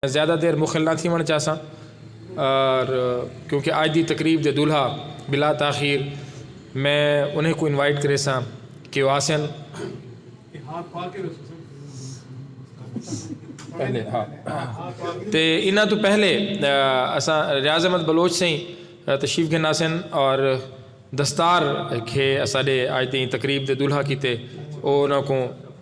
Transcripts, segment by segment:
زیادہ دیر مخل نہ تھیونڑ چاہساں اور کیونکہ آج دی تقریب دے دولہا بلا تاخیر میں انہیں کو انوائٹ کریساں کہ او آسن تے انہاں تو پہلے اساں ریاض احمد بلوچ سیں تشریف گھن آسن اور دستار کھے اساڈے آج دی تقریب دے دولہا کیتے او انہاں کو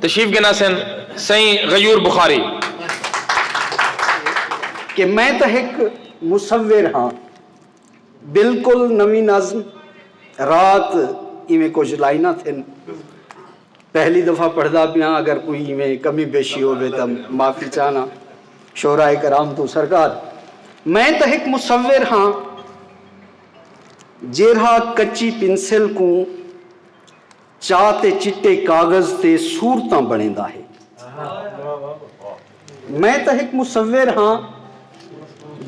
تشریف گھن آسن سئیں غیور بخاری۔ کہ میں تاں ہک مصور ہاں۔ بالکل نویں نظم رات ایویں کجھ لائناں تھن۔ پہلی دفعہ پڑھدا پیاں اگر کوئی ایویں کمی بیشی ہووے تاں معافی چاہنا شعراء کرام توں سرکار میں تاں ہک مصور ہاں جیرھا کچی پنسل کوں چاہ تے چٹے کاغذ تے صورتاں بݨیندا ہے۔ میں تاں ہک مصور ہاں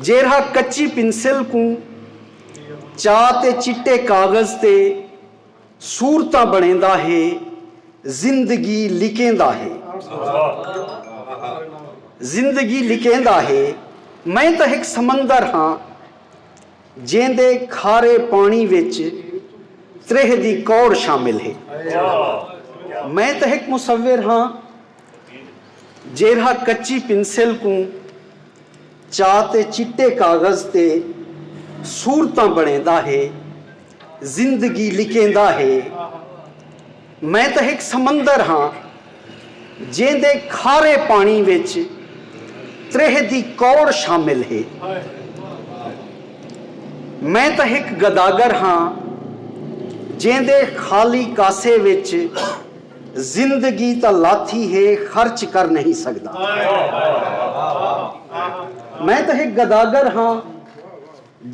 جیرھا کچی پنسل کوں چاہ تے چٹے کاغذ تے صورتاں بݨیندا ہے، زندگی لکیندا ہے۔ زندگی لکیندا ہے۔ میں تاں ہک سمندر ہاں۔ جیندے کھارے پاݨی وچ تریہہ دی کوڑ شامل ہے۔ میں تاں ہک مصور ہاں جیرھا کچی پنسل کوں چا تے چٹے کاغذ تے صورتاں بݨیندا ہے، زندگی لکیندا ہے۔ میں تاں ہک سمندر ہاں جیندے کھارے پاݨی وچ تریہہ دی کوڑ شامل ہے۔ میں تاں ہک گداگر ہاں جیندے خالی کاسے وچ زندگی تاں لاتھی ہے خرچ کر نئیں سڳدا۔ میں تاں ہک گداگر ہاں۔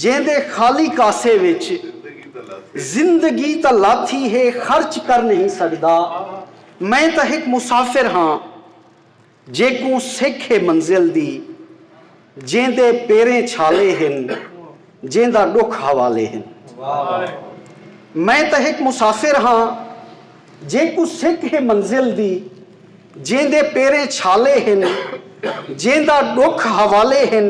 جیندے خالی کاسے وچ زندگی تاں لاتھی ہے خرچ کر نہیں سگدا میں تاں ہک مسافر ہاں جیکوں سکھ ہے منزل دی جیندے پیریں چھالے ہن جیندا ڈکھ حوالے ہن میں تاں ہک مسافر ہاں جیکوں سکھ ہے منزل دی جیندے پیریں چھالے ہن جیندا ڈکھ حوالے ہن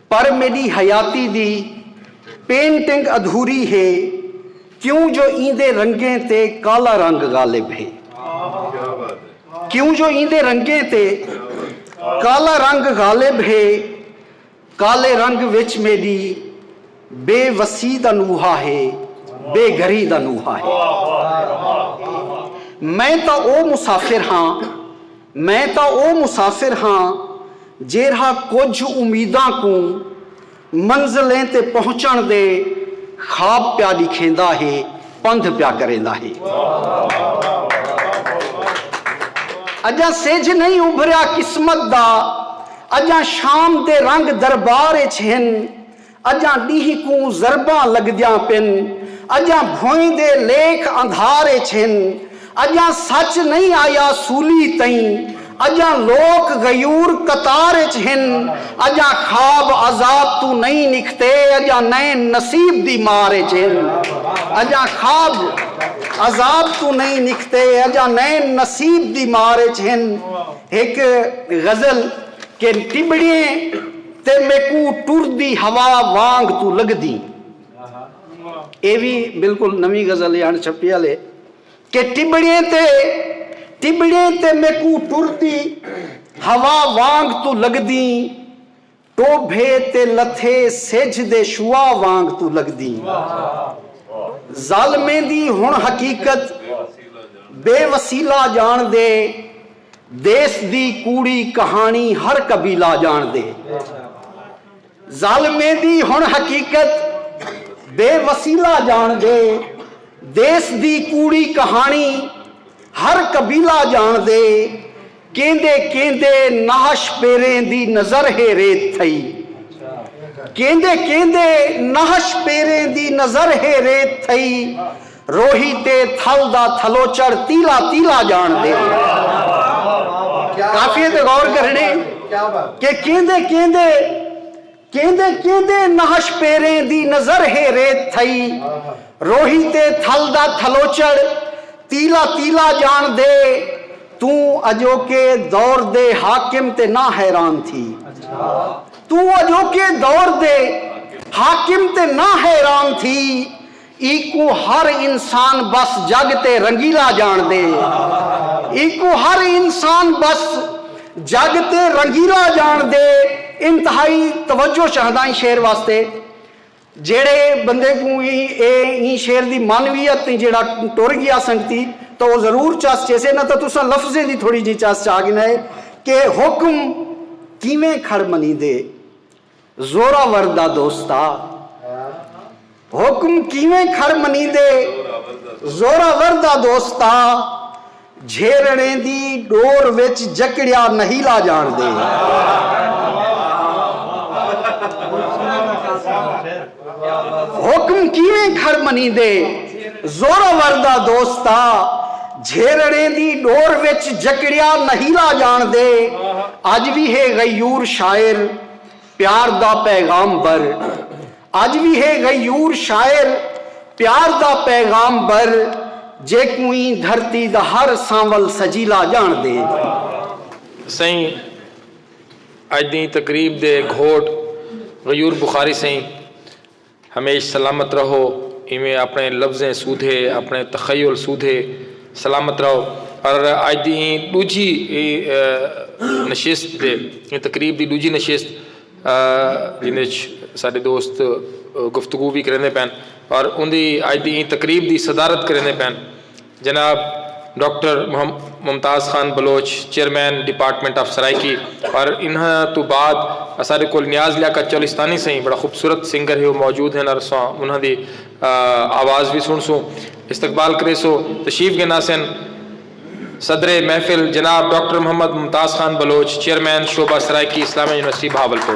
پر میݙی حیاتی دی پینٹنگ ادھوری ہے کیوں جو ایندے رنگیں تے کالا رنگ غالب ہے کیوں جو ایندے رنگیں تے کالا رنگ غالب ہے کالے رنگ وچ میݙی بے وسی دا نوحہ ہے بے گھری دا نوحہ ہے میں تاں او مسافر ہاں میں تاں او مسافر ہاں جیرھا کجھ امیداں کوں منزلیں تے پہنچݨ دے خواب پیا ݙکھیندا ہے، پندھ پیا کریندا ہے۔ اڄاں سجھ نئیں ابھریا قسمت دا، اڄاں شام دے رنگ دربار اچ ہن، اڄاں ݙینہہ کوں ضرباں لڳدیاں پن اڄاں بھوئیں دے لیکھ اندھار اچ ہن اڄاں سچ نئیں آیا سولی تئیں اڄاں لوک غیور قطار اچ ہن اڄاں خواب آزاد توں نئیں نکھتے اڄاں نئیں نصیب دی مار اچ ہن اڄاں خواب آزاد توں نئیں نکھتے اڄاں نئیں نصیب دی مار اچ ہن ہک غزل کہ ٹٻڑیں تے میکوں ٹردی ہوا وانگ توں لگدیں اے وی بالکل نویں غزل اے اݨ چھپی آلے کہ ٹٻڑیں تے ٹٻڑیں تے میکوں ٹردی ہوا وانگ توں لگدیں ٹوبھے تے لتھے سجھ دے شعاع وانگ توں لگدیں ظالمیں دی ہݨ حقیقت بے وسیلہ ڄاݨ دے دیس دی کوڑی کہاݨی ہر قبیلہ ڄاݨدے۔ ظالمیں دی ہݨ حقیقت بے وسیلہ ڄاݨدے۔ دیس دی کوڑی کہاݨی ہر قبیلہ ڄاݨدے۔ کیندے کیندے نہش پیریں دی نظر ہے ریت تھئی۔ کیندے کیندے نہش پیریں دی نظر ہے ریت تھئی۔ روہی تے تھل دا تھلوچڑ تیلا تیلا جان دے۔ قافیے تے غور کرݨے کہ کیندے کیندے کیندے کیندے نہش پیریں دی نظر ہے ریت تھئی روہی تے تھل دا تھلوچڑ تیلا تیلا جان دے توں اجوکے دور دے حاکم تے نہ حیران تھی توں اجوکے دور دے حاکم تے نہ حیران تھی ایکوں ہر انسان بس جگ تے رنگیلا جانڑدے۔ ایکوں ہر انسان بس جگ تے رنگیلا جانڑدے۔ انتہائی توجہ چاہندا ایں شعر واسطے۔ جیہڑے بندے کوں ایں اے ایں شعر دی معنویت تیں جیہڑا ٹر گیا سنگتی تاں او ضرور چس چیسے نہ تاں تساں لفظیں دی تھوڑی جئی چس چا گھنائے کہ حکم کیویں کھڑ منیندے۔ زوراور دا دوستا حکم کیویں کھر منیندے زوراور دا دوستا جھیرݨے دی ݙور وچ جکڑیا نہیلا ڄاݨدے۔ حکم کیویں کھر منیندے زورآور دا دوستا جھیرڑیں دی ڈور وچ جکڑیا نہیلا جانڑدے اج وی ہے غیور شاعر پیار دا پیغام بر اج وی ہے غیور شاعر پیار دا پیغام بر جیکوں ایں دھرتی دا ہر سانول سجیلا جانڑدے۔ سئیں اڄ دی تقریب دے گھوٹ غیور بخاری سئیں ہمیش سلامت رہو ایویں آپݨے لفظیں سودھے آپݨے تخیل سودھے سلامت رہو اور اڄ دی ایں ݙوجھی نشست دے ایں تقریب دی ݙوجھی نشست جیندے اچ ساݙے دوست گفتگو وی کریندے پئن اور اوندی اڄ دی ایں تقریب دی صدارت کریندے پئن جناب doctor Mumtaz Khan Baloch chairman department of Saraiki اور انہاں توں بعد اساڈے کول نیاز لیاقت چولستانی سئیں بڑا خوبصورت سنگر ہے او موجود ہن اور اساں انہاں دی آواز وی سنڑسوں استقبال کریسو تشریف گھناسن صدر محفل جناب ڈاکٹر محمد ممتاز خان بلوچ چیئرمین شعبہ سرائیکی اسلامیہ یونیورسٹی بہاولپور۔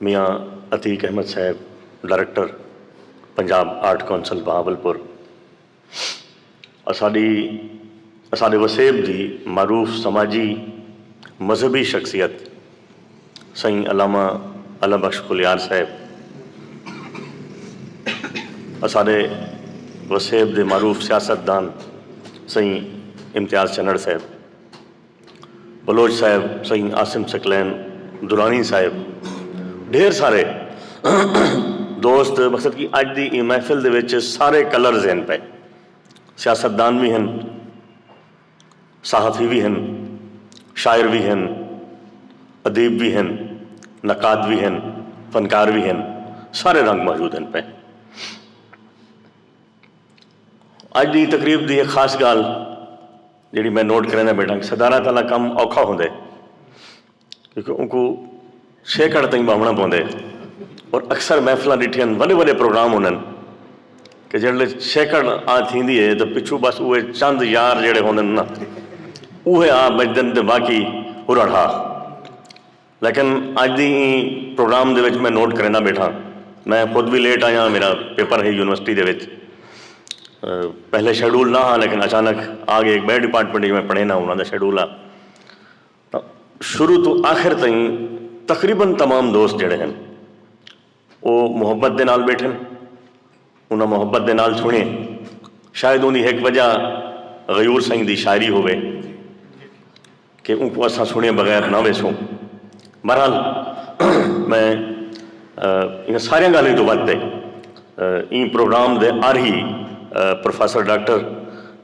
میاں عتیق احمد صاحب director Punjab art council Bahawalpur اساڈی اساڈے وسیب دی معروف سماجی مذہبی شخصیت سئیں علامہ اللہ بخش خلیار صاحب اساڈے وسیب دے معروف سیاست دان سئیں امتیاز چنڑ صاحب۔ بلوچ صاحب، سئیں عاصم ثقلین، درانی صاحب ڈھیر سارے دوست مقصد کہ اج دی ایں محفل دے وچ سارے کلرز ہن پئے سیاست دان وی ہن صحافی وی ہن شاعر وی ہن ادیب وی ہن نقاد وی ہن فنکار وی ہن سارے رنگ موجود ہن پئے اج دی تقریب دی ہک خاص گالھ جیڑھی میں نوٹ کریندا بیٹھاں صدارت آلا کم اوکھا ہوندے کیونکہ اونکوں چھیکڑ تئیں ٻہوݨا پوندے اور اکثر محفلاں ݙٹھیاں وݙے وݙے پروگرام ہوندن کہ جیڑھلے چھیکڑ آ تھیندی ہے تاں پچھوں بس اوہے چند یار جیڑھے ہوندن نا اوہے آ بچدن تے باقی ہرڑ ہا۔ لیکن اج دی ایں پروگرام دے وچ میں نوٹ کریندا بیٹھاں میں خود وی لیٹ آیاں میرا پیپر ہے یونیورسٹی دے وچ پہلے شیڈول نہ ہاں لیکن اچانک آ گئے ایک بئے ڈپارٹمنٹ جو میں پڑھے نہ انہاں دا شیڈول آ شروع تو آخر تئیں تقریبا تمام دوست جڑے ہیں او محبت دے نال ٻیٹھن، انہاں محبت دے نال سݨیے۔ شاید اوندی ہک وجہ غیور سئیں دی شاعری ہووے کہ اونکوں اساں سݨیے بغیر نہ ویسوں۔ بہرحال میں انہاں ساریاں ڳالھیں توں ودھ تے ایں پروگرام دے آرہی پروفیسر ڈاکٹر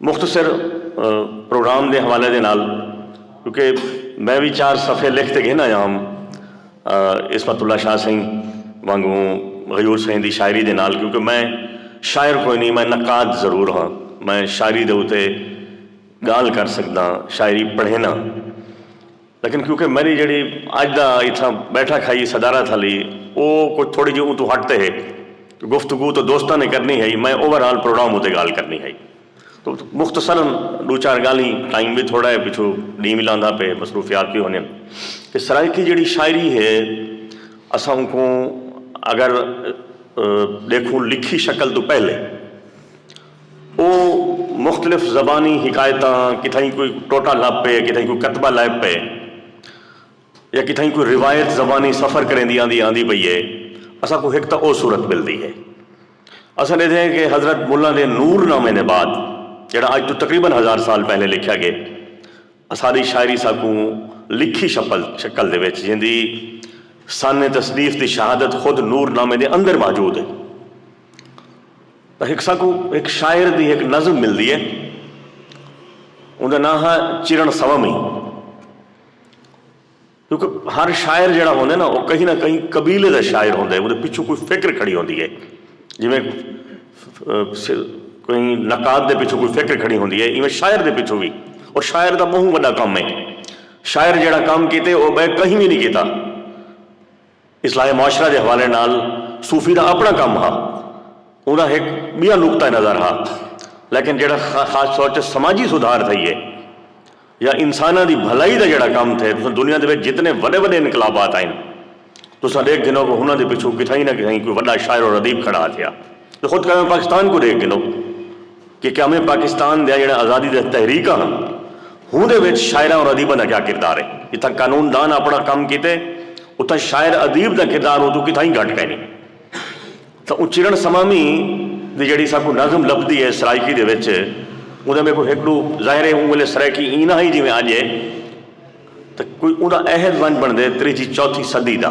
مختصر پروگرام دے حوالے دے نال کیونکہ میں وی چار صفحے لکھ تے گھن آیا ہم عصمت اللہ شاہ سئیں وانگوں غیور سئیں دی شاعری دے نال کیونکہ میں شاعر کوئی نئیں میں نقاد ضرور ہاں میں شاعری دے اتے گالھ کر سکداں شاعری پڑھینا لیکن کیونکہ میݙی جیڑھی اڄ دا اتھاں ٻیٹھک ہئی صدارت ہلی او کجھ تھوڑی جی اوں توں ہٹ تے ہک گفتگو تاں دوستاں نے کرݨی ہئی میں اوور آل پروگرام اتے ڳالھ کرݨی ہئی تاں مختصرا ݙو چار ڳالھیں ٹائم وی تھوڑا ہے پچھوں ݙینہہ وی لاندا پئے مصروفیات وی ہوندین کہ سرائیکی جیڑھی شاعری ہے اساں اونکوں اگر ݙیکھوں لکھی شکل توں پہلے او مختلف زبانی حکایتاں کتھائیں کوئی ٹوٹا لب پئے کتھائیں کوئی کتبہ لائب پئے یا کتھائیں کوئی روایت زبانی سفر کریندی آندی آندی پئی اے اساں کوں ہک تاں او صورت ملدی ہے اساں ݙیدھے ہیں کہ حضرت ملا دے نور نامے دے بعد جیڑھا اج توں تقریبا ہزار سال پہلے لکھیا گئے اساݙی شاعری ساکوں لکھی شپل شکل دے وچ جیندی سانح تصنیف دی شہادت خود نور نامے دے اندر موجود ہے۔ تاں ہک ساکوں ہک شاعر دی ہک نظم ملدی ہے۔ اوندا ناں ہا چرݨ سومی۔ کیونکہ ہر شاعر جیڑھا ہوندے نا او کہیں نہ کہیں قبیلے دا شاعر ہوندے اودے پچھوں کوئی فکر کھڑی ہوندی ہے جیویں کوئی نقاد دے پچھوں کوئی فکر کھڑی ہوندی ہے ایویں شاعر دے پچھوں وی اور شاعر دا بہوں وݙا کم ہے شاعر جیڑھا کم کیتے او ٻئے کہیں وی نہیں کیتا اصلاح معاشرہ دے حوالے نال صوفی دا اپݨا کم ہا۔ اوندا ہک ٻیا نقطہ نظر ہا لیکن جیڑھا خاص طور تے سماجی سدھار تھئیے یا انساناں دی بھلائی دا جیڑھا کم تھئے تساں دنیا دے وچ جتنے وݙے وݙے انقلابات آئن تساں ݙیکھ گھنو کہ انہاں دے پچھوں کتھائیں نہ کتھائیں کوئی وݙا شاعر و ردیب کھڑا تھیا۔ خود کبھے پاکستان کوں ݙیکھ گھنو۔ کہ قیام پاکستان دیاں جیڑھیاں آزادی دیاں تحریکاں ہن ہوندے وچ شاعراں اور ادیباں دا کیا کردار ہے۔ جتھاں قانون دان آپنڑاں کم کیتے اتھاں شاعر ادیب دا کردار اوں توں کتھائیں گھٹ کائنی۔ تاں اوں چرن سمامی دی جیڑھی ساکوں نظم لبھدی ہے سرائیکی دے وچ اوندے میکوں ہک ڈو ظاہر ہے اوں ویلے سرائیکی ایں نہ ہئی جیویں اج ہے تاں کوئی اوندا عہد ونج بنڑدے تریجھی چوتھی صدی دا۔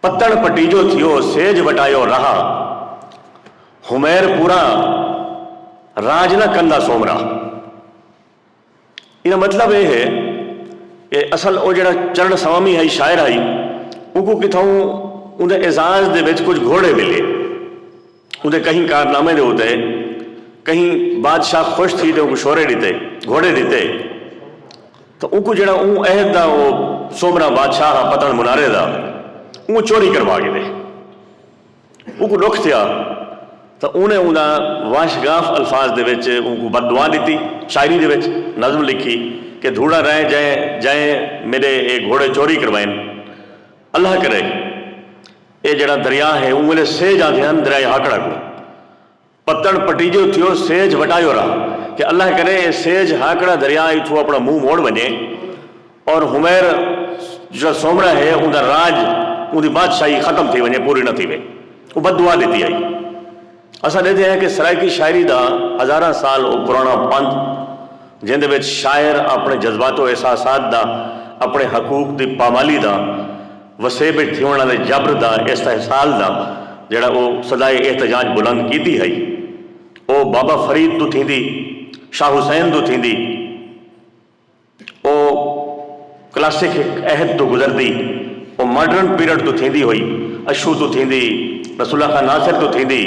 پتݨ پٹیجو تھیو سیج وٹایو راہ حمیر پوراں راج نہ کندا سومرا۔ ایندا مطلب اے ہے کہ اصل او جیڑھا چرݨ سوامی ہئی شاعر ہئی اونکوں کتھاؤں اوندے اعزاز دے وچ کجھ گھوڑے ملے۔ اوندے کہیں کارنامیں دے اتے کہیں بادشاہ خوش تھی تے اونکوں شورے ڈتے، گھوڑے ڈتے تاں اونکوں جیڑھا اوں عہد دا او سومرا بادشاہ ہا پتن منارے دا اوں چوری کروا گھدے۔ اونکوں ڈکھ تھیا تاں اونے اوندا واشگاف الفاظ دے وچ اونکوں بد دعا ڈتی۔ شاعری دے وچ نظم لکھی کہ دھوڑا رائیں جائیں جائیں میڈے اے گھوڑے چوری کروائن۔ اللہ کرے۔ اے جیڑھا دریا ہے اوں ویلے سیج آندھے ہن دریائے ہاکڑا کوں۔ پتݨ پٹیجیو تھیو سیج وٹایو را کہ اللہ کرے اے سیج ہاکڑا دریا ایتھوں اپݨا منہ موڑ ونجے اور حمیر جیڑھا سومرا ہے اوندا راج اوندی بادشاہی ختم تھی ونجے پوری نہ تھیوے۔ اوں بد دعا ݙتی ہئی۔ اساں ݙیدھے ہیں کہ سرائیکی شاعری دا ہزاراں سال او پراݨا پندھ جیندے وچ شاعر اپݨے جذبات و احساسات دا اپݨے حقوق دی پامالی دا وسیب اچ تھیوݨ آلے جبر دا استحصال دا جیڑھا او صدائے احتجاج بلند کیتی ہئی او بابا فرید توں تھیندی شاہ حسین توں تھیندی او کلاسک ہک عہد توں گزردی او ماڈرن پیرڈ توں تھیندی ہوئی اشو توں تھیندی رسول اللہ خاں ناصر توں تھیندی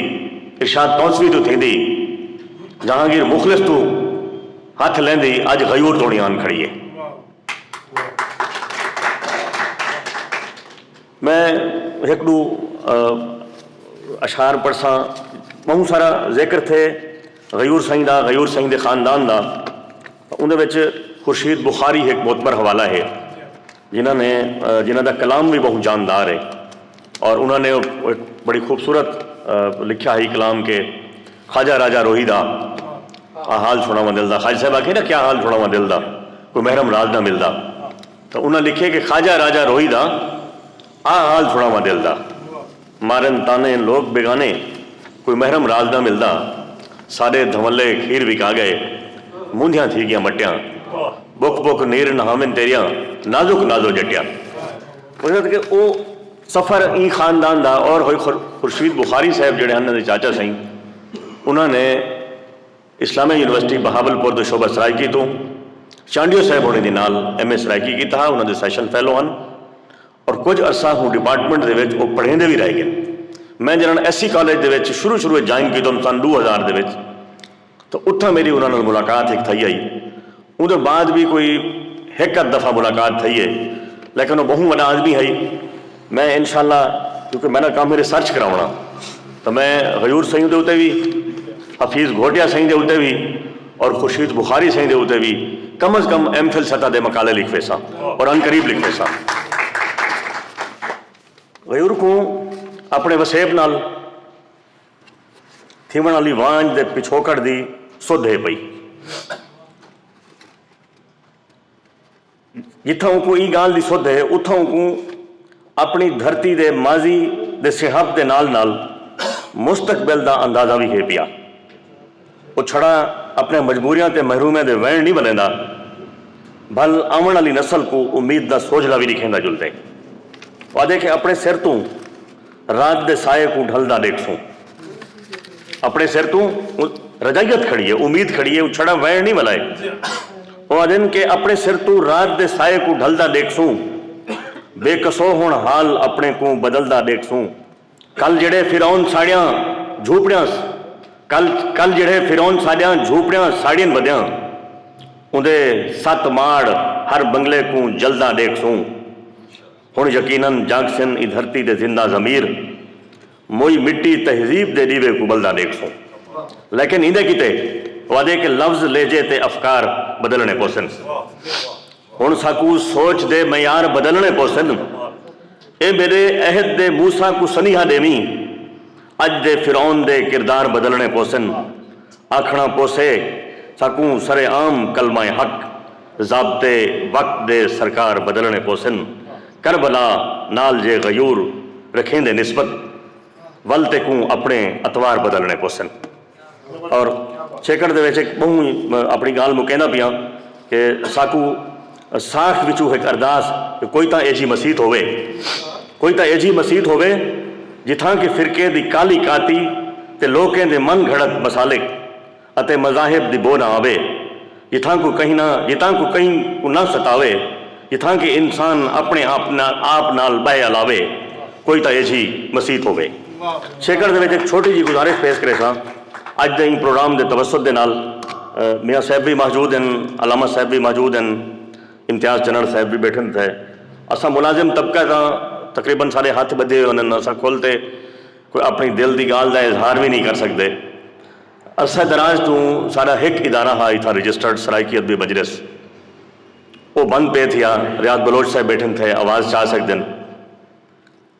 ارشاد تونسوی توں تھیندی جہانگیر مخلص توں ہتھ لیندی اج غیور توڑیں آن کھڑی اے۔ میں ہک ڈو اشعار پڑھساں بہوں سارا ذکر تھے غیور سائیں دا غیور سائیں دے خاندان دا اندر وچ خورشید بخاری ہک معتبر حوالہ ہے جنہاں نے جنہاں دا کلام بھی بہوں جاندار ہے اور انہاں نے ہک بڑی خوبصورت لکھیا ہئی کلام کہ خواجہ راجہ روہی دا آ حال سنڑاواں دل دا خواجہ صاحب آکھے نا کیا حال سنڑاواں دل دا کوئی محرم راز نہ ملدا تاں انہاں لکھے کہ خواجہ راجہ روہی دا آ حال سنڑاواں دل دا مارن طعنے لوک بیگانے کوئی محرم راز نہ ملدا ساڈے دھونلے کھیر وکا گئے مونجھیاں تھی گیاں مٹیاں بک بک نیر نہاون تیریاں نازک نازو جٹیاں۔ وجد کہ او سفر ایں خاندان دا اور ہوئی خورشید بخاری صاحب جیڑھے ہن انہاں دے چاچا سئیں انہاں نے اسلامیہ یونیورسٹی بہاول پور دے شعبہ سرائیکی توں چانڈیو صاحب ہوݨیں دے نال ایم اے سرائیکی کیتا ہا انہاں دے سیشن فیلو ہن اور کجھ عرصہ ہوں ڈیپارٹمنٹ دے وچ او پڑھیندے وی رہ گن میں جنہاں ایس سی کالج دے وچ شروع شروع وچ جوائن کیتم سن ݙو ہزار دے وچ تاں اتھاں میݙی انہاں نال ملاقات ہک تھئی ہئی۔ اوندے بعد وی کوئی ہک ادھ دفعہ ملاقات تھئی ہے لیکن او ٻہوں وݙا آدمی ہئی۔ میں انشاء اللہ کیونکہ میݙا کم ہے ریسرچ کراوݨا تاں میں غیور سئیں دے اتے وی، حفیظ گھوٹیا سئیں دے اتے وی اور خورشید بخاری سئیں دے اتے وی کم از کم ایم فل سطح دے مقالے لکھ ویساں اور عنقریب لکھ ویساں۔ غیور کوں اپݨے وسیب نال۔ تھیوݨ آلی وانڄ دے پچھوکڑ دی سدھ ہے پئی۔ جتھاں اونکوں ایں ڳالھ دی سدھ ہے اتھاں اونکوں اپݨی دھرتی دے ماضی دے سݨہپ دے نال نال مستقبل دا اندازہ وی ہے پیا۔ او چھڑا اپݨیاں مجبوریاں تے محرومیاں دے ویݨ نی ولیندا بھل آوݨ آلی نسل کوں امید دا سوجھلا وی ݙکھیندا جلدے۔ او آہدے کہ اپݨے سر توں رات دے سائے کوں ڈھلدا ݙیکھسوں۔ اپݨے سر توں رجائیت کھڑی اے، امید کھڑی اے او چھڑا ویݨ نی ولائے۔ او آہدن کہ اپݨے سر توں رات دے سائے کوں ڈھلدا ݙیکھسوں۔ بے کسو ہݨ حال اپݨے کوں بدلدا ݙیکھسوں۔ کل جیڑھے فرعون ساڑیاں جھوپڑیاں کل کل جیڑھے فرعون ساڈیاں جھوپڑیاں ساڑین ودیاں اوندے ست ماڑ ہر بنگلے کوں جلدا ڈیکھسوں ہن یقینا جاگسن ایں دھرتی دے زندہ ضمیر موئی مٹی تہذیب دے ڈیوے کوں بلدا ڈیکھسوں لیکن ایندے کیتے وادے کہ لفظ لہجے تے افکار بدلنے پوسن۔ ہݨ ساکوں سوچ دے معیار بدلݨے پوسن۔ اے میݙے عہد دے موسی کوں سنیہا ݙیویں۔ اڄ دے فرعون دے کردار بدلݨے پوسن۔ آکھݨا پوسے ساکوں سر عام کلمہ حق، ضابطے وقت دے سرکار بدلݨے پوسن۔ کربلا نال جے غیور رکھیندے نسبت ول تیکوں اپݨے اطوار بدلݨے پوسن۔ اور چھیکڑ دے وچ ہک ٻہوں ہی اپݨی ڳالھ مکیندا پیاں کہ ساکوں ساکھ وچوں ہک ارداس کہ کوئی تاں ایجھی مسیت ہووے کوئی تاں ایجھی مسیت ہووے جتھاں کہ فرقے دی کالی کاتی تے لوکیں دے من گھڑت مسالک اتے مذاہب دی بو نہ آوے۔ جتھاں کوں کہیں نہ جتھاں کوں کہیں کوں نہ ستاوے جتھاں کہ انسان اپنے آپ نہ آپ نال بہہ الاوے کوئی تاں ایجھی مسیت ہووے چھیکڑ دے وچ ہک چھوٹی جی گزارش پیش کریساں اج دے ایں پروگرام دے توسط دے نال میاں صاحب وی موجود ہن علامہ صاحب وی موجود ہن امتیاز چنڑ صاحب وی بیٹھن تھے اساں ملازم طبقہ تاں تقریبا سارے ہتھ بدھے ہوئے ہن اساں کھل تے کوئی اپنی دل دی گالھ دا اظہار وی نی کر سکدے۔ اساں دراج توں ساڈا ہک ادارہ ہا اتھاں رجسٹرڈ سرائیکی ادبی مجلس او بند پئے تھیا ریاض بلوچ صاحب بیٹھن تھے آواز چا سگدن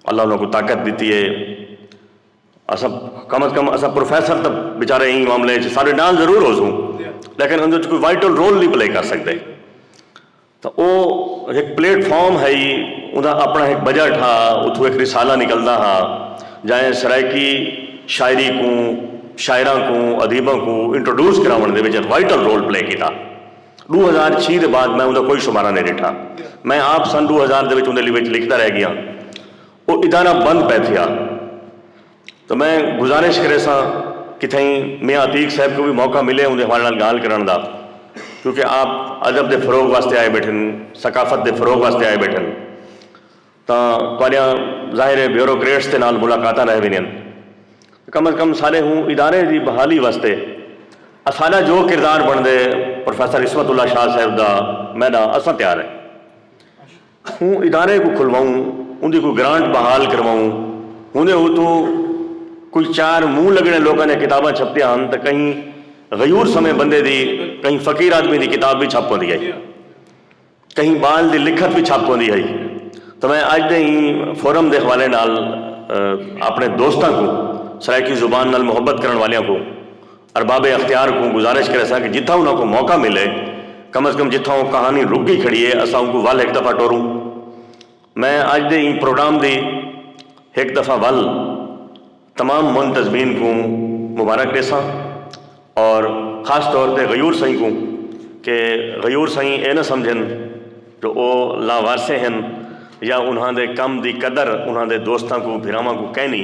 اللہ انہاں کوں طاقت ڈتی ہے اساں کم از کم اساں پروفیسر تاں بیچارے ایں معاملے وچ ساڈے نال ضرور ہوسوں لیکن اندر وچ کوئی وائٹل رول نی پلے کر سگدے۔ تاں او ہک پلیٹ فارم ہئی اوندا اپݨا ہک بجٹ ہا اتھوں ہک رسالہ نکلدا ہا جائیں سرائیکی شاعری کوں شاعراں کوں ادیباں کوں انٹروڈیوس کراوݨ دے وچ وائٹل رول پلے کیتا ݙو ہزار چھی دے بعد میں اوندا کوئی شمارہ نئیں ݙٹھا میں آپ سن ݙو ہزار دے وچ اوندے وچ لکھدا رہ ڳیاں او ادارہ بند پئے تھیا۔ تاں میں گزارش کریساں کہ تھئیں میاں عتیق صاحب کوں وی موقع ملے اوندے حوالے نال گالھ کرݨ دا کیونکہ آپ ادب دے فروغ واسطے آئے بیٹھن ثقافت دے فروغ واسطے آئے بیٹھن تاں تہاݙیاں ظاہر ہے بیوروکریٹس دے نال ملاقاتاں رہ ویندین کم از کم سارے ہوں ادارے دی بحالی واسطے اساݙا جو کردار بݨدے پروفیسر عصمت اللہ شاہ صاحب دا میݙا اساں تیار ہیں۔ اوں ادارے کوں کھلواؤں اوندی کوئی گرانٹ بحال کرواؤں ہوندے ہوتو کوئی چار منہ لگنے لوکاں دیاں کتاباں چھپتیاں ہن تاں کہیں غیور سمیں بندے دی کہیں فقیر آدمی دی کتاب وی چھپ ہوندی ہئی کہیں بال دی لکھت وی چھپ ہوندی ہئی تاں میں اج دے ایں فورم دے حوالے نال اپنے دوستاں کوں سرائیکی زبان نال محبت کرن والیاں کوں ارباب اختیار کوں گزارش کریساں کہ جتھاں انہاں کوں موقع ملے کم از کم جتھاں او کہانی رک گئی کھڑی اے اساں اونکوں ول ہک دفعہ ٹوروں۔ میں اج دے ایں پروگرام دی ہک دفعہ ول تمام منتظمین کوں مبارک ڈیساں اور خاص طور تے غیور سئیں کوں کہ غیور سئیں اے نہ سمجھن جو او لاوارثے ہن یا انہاں دے کم دی قدر انہاں دے دوستاں کوں بھراواں کوں کینی۔